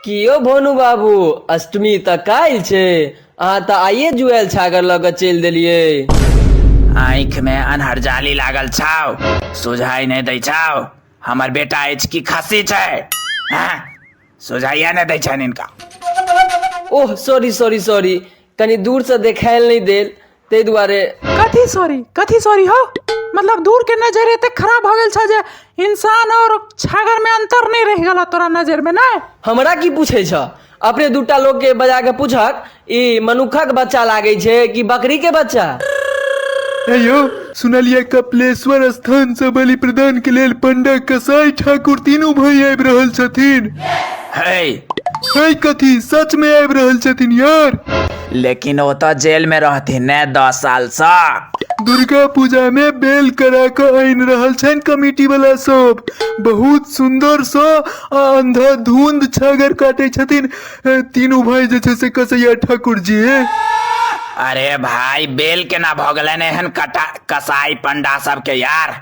कि यौ भोनू बाबू अष्टमी तऽ काल्हि छै अहाँ तऽ आइए जुआएल छागर लऽ कऽ चलि देलियै आँखि मे अनहरजाली लागल छाव सुझाइ नहि दै छाव हमर बेटा अछि कि खस्सी छै हँ सुझाइया नहि दै छनि हिनका ओह सॉरी सॉरी सॉरी कनी दूरसँ देखायल नहि देल ताहि दुआरे कथी सॉरी कथी सॉरी हो मतलब दूर के नजर एते खराब हो गेल छ जे इंसान और छागर में अंतर नहीं रह गेल तोरा नजर में नहीं हमरा की पूछे छ अपने दूटा लोग के बजा के पूछक ई मनुखक बच्चा लागे छे कि बकरी के बच्चा अयो सुनलिए कपिलेश्वर स्थान से बलि प्रदान के लेल पंडा कसाई ठाकुर तीनू भाई आबि रहल छथिन है है कथी सच में आबि रहल छथिन यार लेकिन ओ तो जेल में रहथिन ने दस साल से दुर्गा पूजा में बेल करा के आनि रहल छन कमेटी वाला सब बहुत सुंदर सँ आ अंधा धुंध छागर काटे छथिन ए, तीनू भाई जे छै से कसैया ठाकुर जी अरे भाई बेल केना भऽ गेलनि एहन कटा कसाई पंडा सबके यार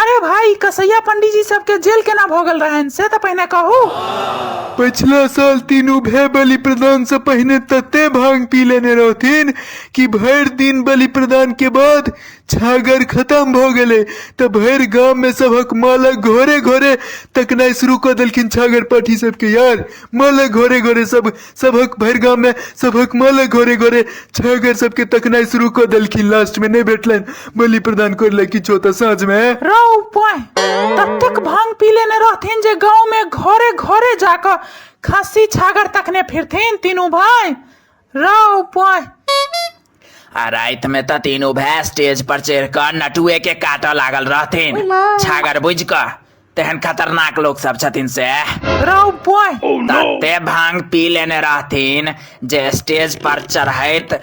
अरे भाई कसैया पंडीजी सबके जेल केना भऽ गेल रहनि से तऽ पहिने कहू पछिला साल तीनू भाई बलि प्रदान से पहिने तते भांग पी लेने रहथिन कि भरि दिन बलि प्रदान के बाद छागर खत्म भ गेले त भरि गांव में सबक मालक घरे घरे तकनाई शुरू क देलखिन छागर पाठी सबके यार मालक घरे घरे सब सभक भरि गाममे सभक माला घरे घरे छागर सबके तकनाइ शुरू कऽ देलखिन लास्टमे नहि भेटलनि बलि प्रदान करले किछो तऽ साँझमे रौ पोय ततेक भांग पी लेने रहथिन जे गांव में घरे घरे जाकर खस्सी छागर तकने फिरथिन तीनू भाई रौ पोय आ राति में तऽ तीनू भाय स्टेज पर चढ़ कऽ नटुए के काटऽ लागल रहथिन छागर बुझ कऽ तेहन खतरनाक लोग सब छथिन से राव बॉय तते भांग पी लेने रहथिन जे स्टेज पर चढ़ैत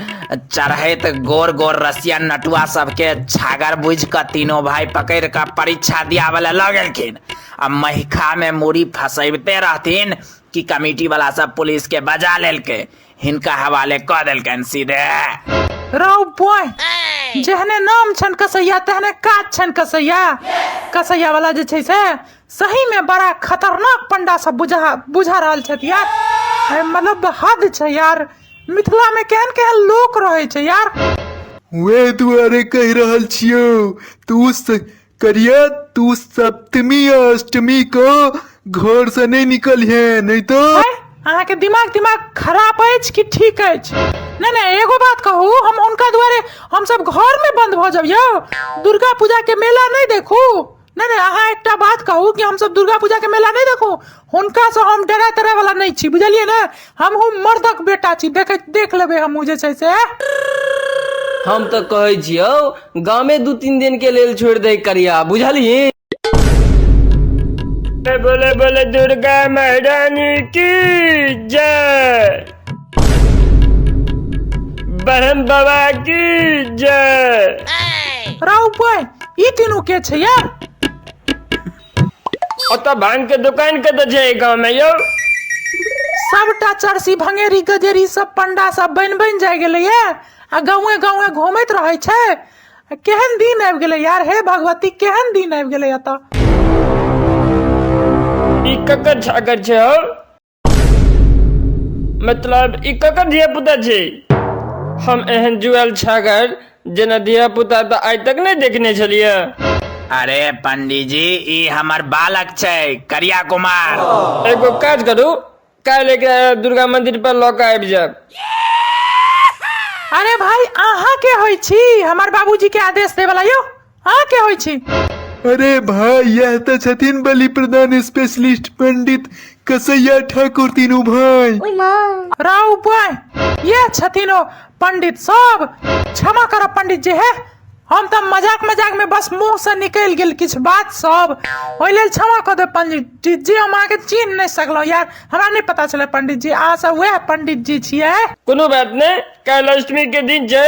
चढ़ैत गोर गोर रसिया नटुआ सबके छागर बुझ कऽ तीनों भाई पकड़ कऽ परीक्षा दियावे ला लऽ गेलखिन आ महिखा में मूड़ी फसैबते रहथिन कि कमेटी वाला सब पुलिस के बजा लेलकै हिनका हवाले कऽ देलकनि सीधे रौ बॉय जेहने नाम छनि कसैया तेहने काज छनि कसैया कसैया वाला जे छै से सही में बड़ा खतरनाक पंडा सब बुझा बुझा रहल छथि यार अरे मतलब हद छै यार मिथिला में केहन केहन लोक रहै छै यार वे दुआरे कहि रहल छियौ तू स- करिया तू सप्तमी आ अष्टमी को घर से नहीं निकल है नहीं तो आँय, अहाँके दिमाग दिमाग खराब अछि कि ठीक अछि नहि नहि एगो बात कहू हम हुनका दुआरे हमसभ घरमे बन्द भऽ जाब यौ दुर्गा पूजाके मेला नहि देखू नहि नहि अहाँ एकटा बात कहू कि हमसभ दुर्गा पूजाके मेला नहि देखू हुनकासँ हम डरा तरा वाला नहि छी बुझलियै ने हमहूँ मर्दक बेटा छी देख देख लेबै हमहूँ जे छै से हम तऽ कहै छियौ गामे दू तीन दिन के लेल छोड़ि दे करिया बुझलिही बोले बोले दुर्गा महारानी की जय ब्रह्म बाबा की जय राउ बहन ई तीनू के छै यार ओतऽ भांग के दुकान कतऽ छै एहि गाँव में यौ सबटा चरसी भंगेरी गजेरी सब पंडा सब बनि बनि जाय गेलैए आ गाँवे गाँवे घूमैत रहै छै आ केहन दिन आबि गेलै यार हे भगवती केहन दिन आबि गेलै एतऽ ई ककर छागर छै हौ मतलब ई ककर धिया पुता छै हम एहन जुआल छागर जेना धिया पुता तऽ आइ तक नहि देखने छलियै अरे पंडीजी ई हमर बालक छै करिया कुमार एगो काज करू काल्हि एकरा दुर्गा मंदिर पर लऽ कऽ आबि जायब अरे भाई अहाँ के होइ छी हमर बाबूजी के आदेश देवला यौ अहाँ के होइ छी अरे भाई यह तऽ छथिन बलि प्रदान स्पेशलिस्ट पंडित कसैया ठाकुर तीनू भाई ओइ माँ राउ बॉय यह छथिन ओ पंडित सब क्षमा करब पंडित जी हे हम तऽ मजाक मजाक में बस मुंह से निकलि गेल किछु बात सब ओहि लेल क्षमा कऽ देब पंडित जी हम अहाँके चिन्ह नहि सकलहुँ यार हमरा नहि पता छलै पंडित जी अहाँ सब वएह पंडित जी छियै कोनो बात नहि काल्हि अष्टमी के दिन छै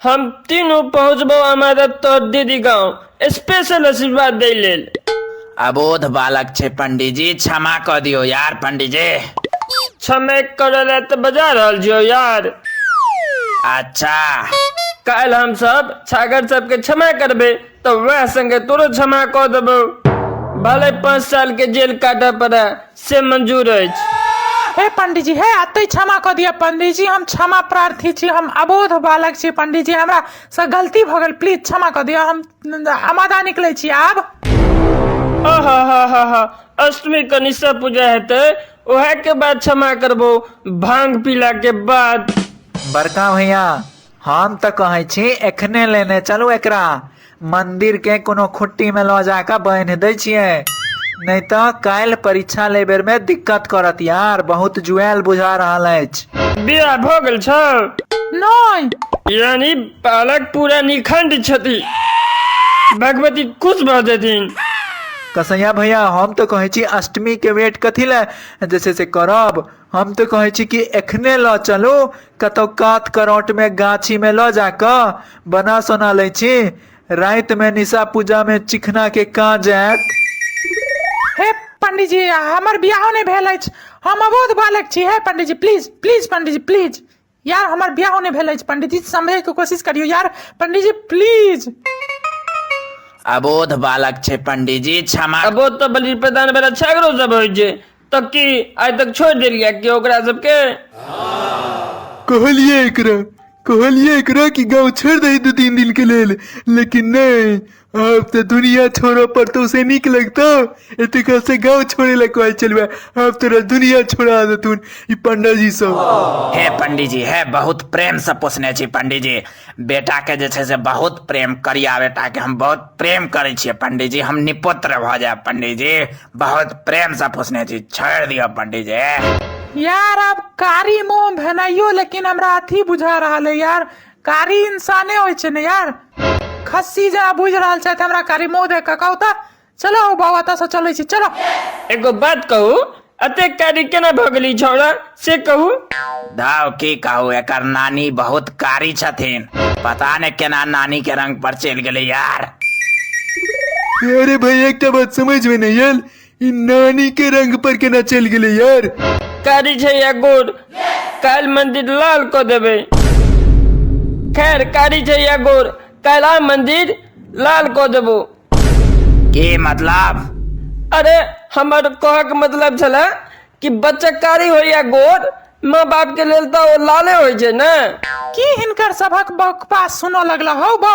हम तीनू पहुँचबो हमारा तो दीदी गाँव स्पेशल आशीर्वाद दे लेल अबोध बालक छे पंडित जी क्षमा कर दियो यार पंडित जी क्षमे करे ले तो बजा रहल जियो यार अच्छा काल हम सब छागर सब के क्षमा करबे तो वह संगे तोरो क्षमा कर देबो भले पाँच साल के जेल काटे पड़े से मंजूर अछि हे पंडीजी हे अतै क्षमा कऽ दिअ पंडीजी हम क्षमा प्रार्थी छी हम अबोध बालक छी पंडीजी हमरा से गलती भऽ गेल प्लीज क्षमा कऽ दिअ हम अमादा निकलै छी आब आहा हा हा हा अष्टमी कनिषा पूजा हेतै ओहे के बाद क्षमा करबो भांग पीला के बाद बड़का भैया हम तऽ कहै छी एखने लेने चलू एकरा मंदिर के कोनो खुट्टी में लो जाक बान्हि दय छियै नहि तऽ काल्हि परीक्षा ले बेर में दिक्कत करत यार बहुत जुआल बुझा रहल अछि बियाह भऽ गेल छौ नहि यानी बालक पूरा निखंड छथि भगवती खुश भऽ जेथिन कसैया भैया हम तऽ कहै छी अष्टमी के वेट कथी लए जे छै से करब हम तऽ कहै छी कि एखने लऽ चलू कतहु कात करौटमे गाछीमे लऽ जा कऽ बना सोना लै छी रातिमे निशा पूजामे चिखनाके काज आयत हे पंडीजी हमर बियाहो नहि भेल अछि हम अबोध बालक छी हे पंडीजी प्लीज प्लीज पंडीजी प्लीज यार हमर बियाह नहि भेल अछि पंडित जी समझे के कोशिश करियो यार पंडित जी प्लीज अबोध बालक छै पंडीजी क्षमा अबो तऽ बलि प्रदान बेला छागरो सब होइ छै तऽ की आइ तक छोड़ि देलियै कि ओकरा सबके कहलिए एकरा कहलिए एकरा कि गाँव छोड़ि दही दू तीन दिन के लेल लेकिन नहि आब तऽ दुनिया छोड़ऽ पड़तौ से नीक लगतौ एते काल से गाँव छोड़े ला कहै छलुए आब तोरा दुनिया छोड़ा देथुन ई पंडाजी सब हे पंडीजी हे बहुत प्रेम से पोसने छी पंडीजी बेटा के जे छै से बहुत प्रेम करिया बेटा के हम बहुत प्रेम करे छियै पंडीजी हम निपुत्र भऽ जायब पंडीजी बहुत प्रेम से पोसने छी छोड़ दिअ पंडीजी यार आब कारी मोह भेनाइयो लेकिन हमरा अथी बुझा रहल है यार कारी इंसाने होइ छै ने यार खस्सी जेना बुझि रहल छथि हमरा कारी मुँह देख कऽ कहू तऽ चलो ओ बाबा एतऽसँ चलै छी चलो एगो बात कहू अते कारी केना भऽ गेली छौड़ा से कहू धाव की कहू एकर नानी बहुत कारी छथिन पता ने केना नानी के रंग पर चलि गेलै यार अरे भाई एकटा बात समझ में नहीं आयल ई नानी के रंग पर केना चल गेले यार कारी छै या गोर काल्हि मंदिर लाल कऽ देबै खैर कारी छै या गोर काल्हि आइ मंदिर लाल कऽ देबो की मतलब अरे हमर कहक मतलब छले कि बच्चा कारी हो या गोर माँ बाप के लेल तऽ ओ लाले होइ छै ने की हिनकर सभक बकवास सुनऽ लगला हौ बौ